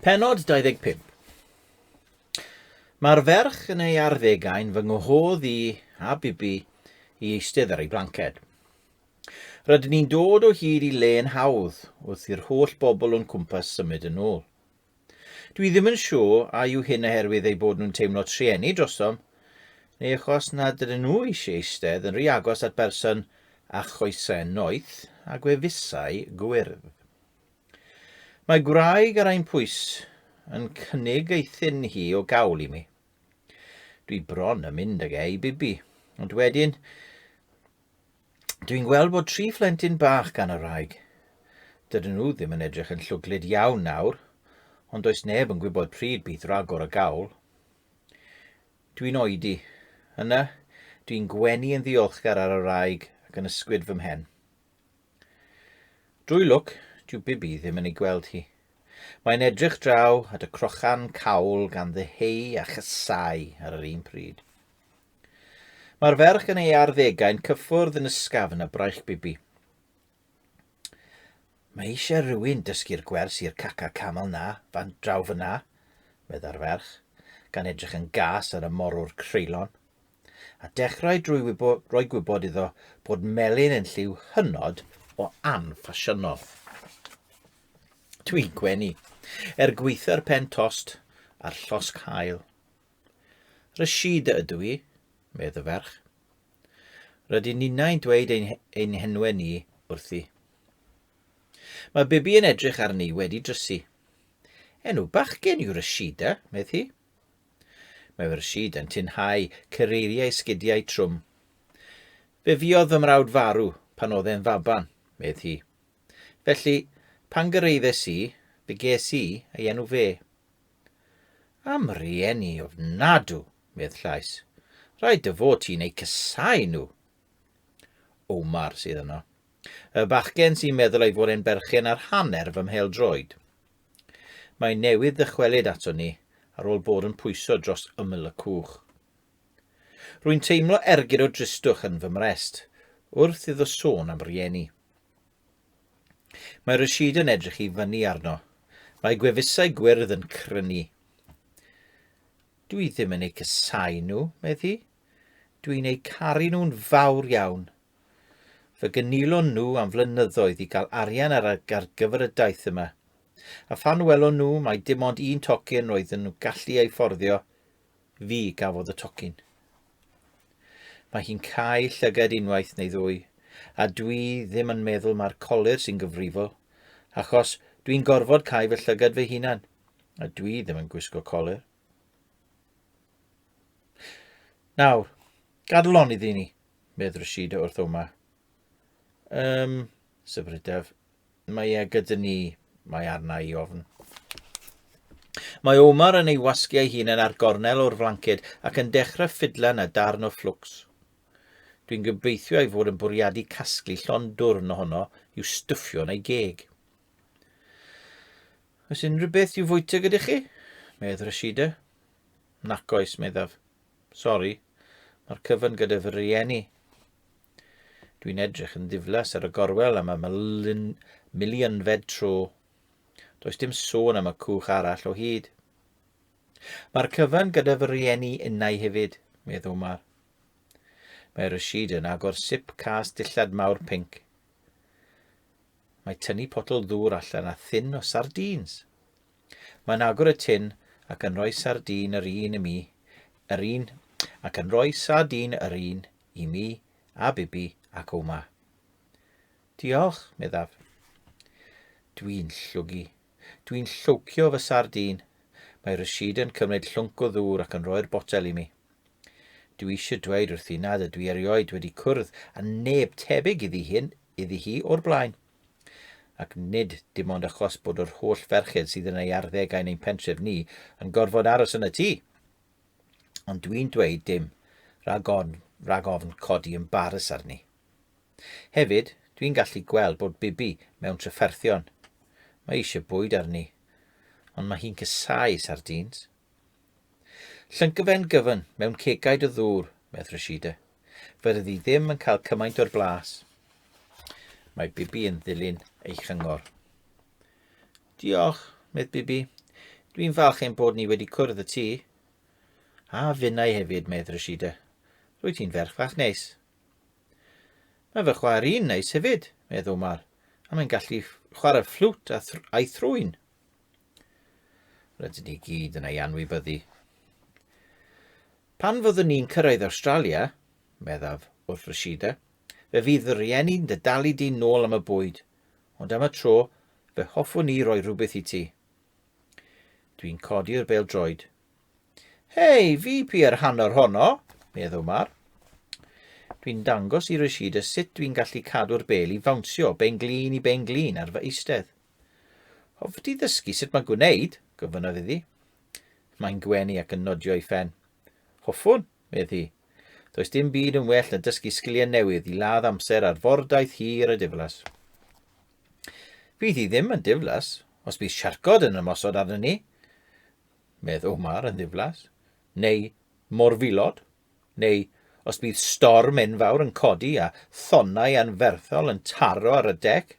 Penod 25 Mae'r ferch yn ei arddegau'n fy nghohodd i a bibi i eistedd ar ei blanced. Rydyn ni'n dod o hyd i le'n hawdd wrth i'r holl bobl o'n cwmpas symud yn ôl. Dwi ddim yn siŵr a yw hyn oherwydd eu bod nhw'n teimlo trueni drosom, neu achos nad ydyn nhw eisiau eistedd yn rhy agos at berson â choesau noeth a gwefusau gwyrdd. Mae gwraig ar ein pwys yn cynnig ei thun hi o gawl i mi. Dwi bron yn mynd ag e i bibi, ond wedyn Dwi'n gweld bod tri phlentyn bach gan y wraig. Dydyn nhw ddim yn edrych yn llwglyd iawn nawr, ond does neb yn gwybod pryd bydd ragor o gawl. Dwi'n oedi. Yna, dwi'n gwenu yn ddiolchgar ar y wraig ac yn ysgwyd fy mhen. Drwy lwc, dyw Bibi ddim yn ei gweld hi. Mae'n edrych draw at y crochan cawl gan ddeheu a chysau ar yr un pryd. Mae'r ferch yn ei arddegau'n cyffwrdd yn ysgafn a braich bibi. Mae eisiau rhywun dysgu'r gwers i'r caca camel na, fan draw fyna, medda'r ferch, gan edrych yn gas ar y morwr creulon. A dechrau drwy wybo, roi gwybod iddo bod melyn yn lliw hynod o anffasiynol. Dwi'n gwenu, er gweitha'r pen tost a'r llosg hael. Rashida ydw i, medd y ferch. Rydyn ninnau'n dweud ein, ein henwe ni wrthi. Mae Bibi yn edrych arni wedi drysu. Enw bachgen yw Rashida, medd hi. Mae Rashida yn tinhau cyreiriau sgidiau trwm. Fe fiodd fy mrawd farw pan oedd e'n faban, medd hi. Felly, pan gyrraeddes i, fe ges i ei enw fe. Am rieni ofnadw, medd Llais. Rhaid dy fod ti'n eu cysau nhw. Omar sydd yno. Y bachgen sy'n meddwl ei fod e'n berchen ar hanner fy mhel droed. Mae newydd ddychwelyd ato ni ar ôl bod yn pwyso dros ymyl y cwch. Rwy'n teimlo ergyd o dristwch yn fy mrest wrth iddo sôn am rieni. Mae Rashid yn edrych i fyny arno. Mae gwefusau gwyrdd yn crynu. Dwi ddim yn eu cysau nhw, medd hi. Dwi'n eu caru nhw'n fawr iawn. Fy gynilon nhw am flynyddoedd i gael arian ar, ar gyfer y daith yma. A phan welon nhw mae dim ond un tocyn roedden nhw'n gallu ei fforddio, Fi gafodd y tocyn. Mae hi'n cau llyged unwaith neu ddwy, a dwi ddim yn meddwl mae'r colir sy'n gyfrifol, achos dwi'n gorfod cau fy llyged fy hunan, a dwi ddim yn gwisgo colir. Nawr, gadlon iddi ni, medd Rashida wrth Oma. Ym, syfrydaf, Mae e gyda ni, mae arna i ofn. Mae Omar yn ei wasgu ei hun yn ar gornel o'r flanced ac yn dechrau ffidlan a darn o fflwcs. Dwi'n gobeithio ei fod yn bwriadu casglu llon dwrn ohono i'w stwffio yn ei geg. Oes unrhyw beth i'w fwyta gyda chi? Medd Rashida. Nac oes, meddaf. Sori, mae'r cyfan gyda fy rieni. Dwi'n edrych yn ddiflas ar y gorwel am y milyn, milionfed tro. Does dim sôn am y cwch arall o hyd. Mae'r cyfan gyda fy rieni innau hefyd, medd Omar. Mae Rashid yn agor sip cas dillad mawr pinc. Mae tynnu potel ddŵr allan a thyn o sardîns. Mae'n agor y tin ac yn rhoi sardîn yr un i mi, yr un, ac yn rhoi sardîn yr un i mi a Bibi ac Oma. Diolch, meddaf. Dwi'n llwgu. Dwi'n llwcio fy sardîn. Mae Rashid yn cymryd llwnc o ddŵr ac yn rhoi'r botel i mi. Dwi eisiau dweud wrthi nad ydw i erioed wedi cwrdd â neb tebyg iddi hyn iddi hi o'r blaen. Ac nid dim ond achos bod yr holl ferched sydd yn ei arddegau yn ein pentref ni yn gorfod aros yn y tŷ. Ond dwi'n dweud dim rhag ofn, rhag ofn codi ymbarys arni. Hefyd, dwi'n gallu gweld bod Bibi mewn trafferthion. Mae eisiau bwyd arni, ond mae hi'n cysau sardîns. Llyncyfen gyfyn mewn cegaid o ddŵr, medd Rashida. Fe ryddi ddim yn cael cymaint o'r blas. Mae Bibi yn ddilyn ei chyngor. Diolch, Myth Bibi. Dwi'n falch ein bod ni wedi cwrdd y ti. A finnau hefyd, medd Rashida. Rwy ti'n ferch fach neis. Mae fy chwaer i'n neis hefyd, medd Omar, a mae'n gallu chwarae fflwt a thr a'i thrwyn. Rydyn ni gyd yn ei anwybyddu. Pan fyddwn ni'n cyrraedd Australia, meddaf wrth Rashida, fe fydd fy rhieni'n dy dalu di nôl am y bwyd, ond am y tro, Fe hoffwn i roi rhywbeth i ti. Dwi'n codi'r bel droed. Hei, fi pi ar hanner honno, meddw Mar. Dwi'n dangos i Rashida sut dwi'n gallu cadw'r bel i fawnsio ben glin i ben glin ar fy eistedd. Hoff ti ddysgu sut mae'n gwneud, gofynnaf iddi. Mae'n gwenu ac yn nodio ei phen. Hoffwn, medd hi. Does dim byd yn well na dysgu sgiliau newydd i ladd amser ar fordaith hir a diflas. Fydd hi ddim yn diflas os bydd siarcod yn ymosod arnyn ni, medd Omar yn ddiflas, neu morfilod, neu os bydd storm enfawr yn codi a thonnau anferthol yn taro ar y dec,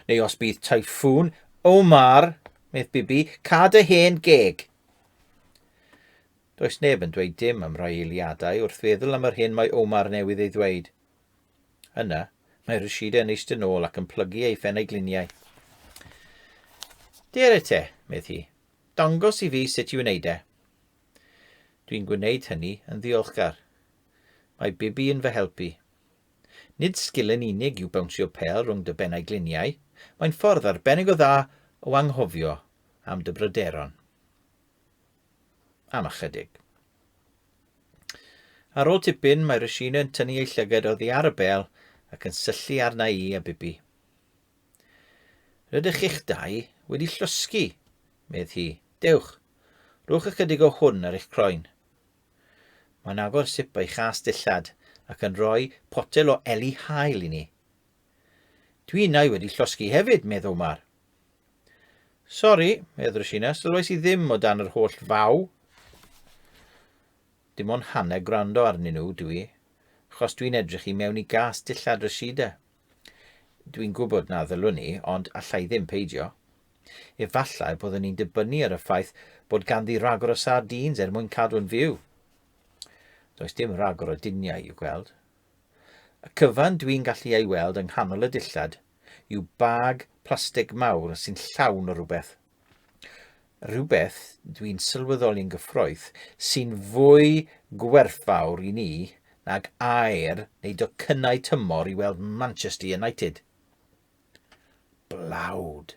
neu os bydd tyffŵn, Omar, medd Bibi, cad y hen geg. Does neb yn dweud dim am roi eiliadau wrth feddwl am yr hyn mae Omar newydd ei ddweud. Yna, mae Rashida yn eistedd nôl ac yn plygu ei phen a'i gliniau. Dere te, medd hi. Dangos i fi sut i wneud e. Dwi'n gwneud hynny yn ddiolchgar. Mae Bibi yn fy helpu. Nid sgil yn unig yw bawnsio pel rhwng dy ben a'i gliniau, mae'n ffordd arbennig o dda o anghofio am dy bryderon. am ychydig. Ar ôl tipyn, mae Rashina yn tynnu ei llyged oddi ar y bel ac yn syllu arna i a Bibi. Rydych chi'ch dau wedi llosgi, medd hi. Dewch, rhowch ychydig o hwn ar eich croen. Mae'n agor sip ei chas dillad ac yn rhoi potel o eli hael i ni. Dwi innau wedi llosgi hefyd, medd Omar. Sori, medd Rashina, sylwais i ddim o dan yr holl faw. Dim ond hanner gwrando arnyn nhw dwi i, achos dwi'n edrych i mewn i gas dillad Rashida. Dwi'n gwybod na ddylwn ni, ond allai ddim peidio. Efallai byddwn ni'n dibynnu ar y ffaith bod ganddi ragor o sardines er mwyn cadw'n fyw. Does dim ragor o diniau i'w gweld. Y cyfan dwi'n gallu ei weld yng nghanol y dillad yw bag plastig mawr sy'n llawn o rywbeth. Rhywbeth dwi'n sylweddoli'n gyffroeth sy'n fwy gwerthfawr i ni nag aer neu docynnau tymor i weld Manchester United. Blawd.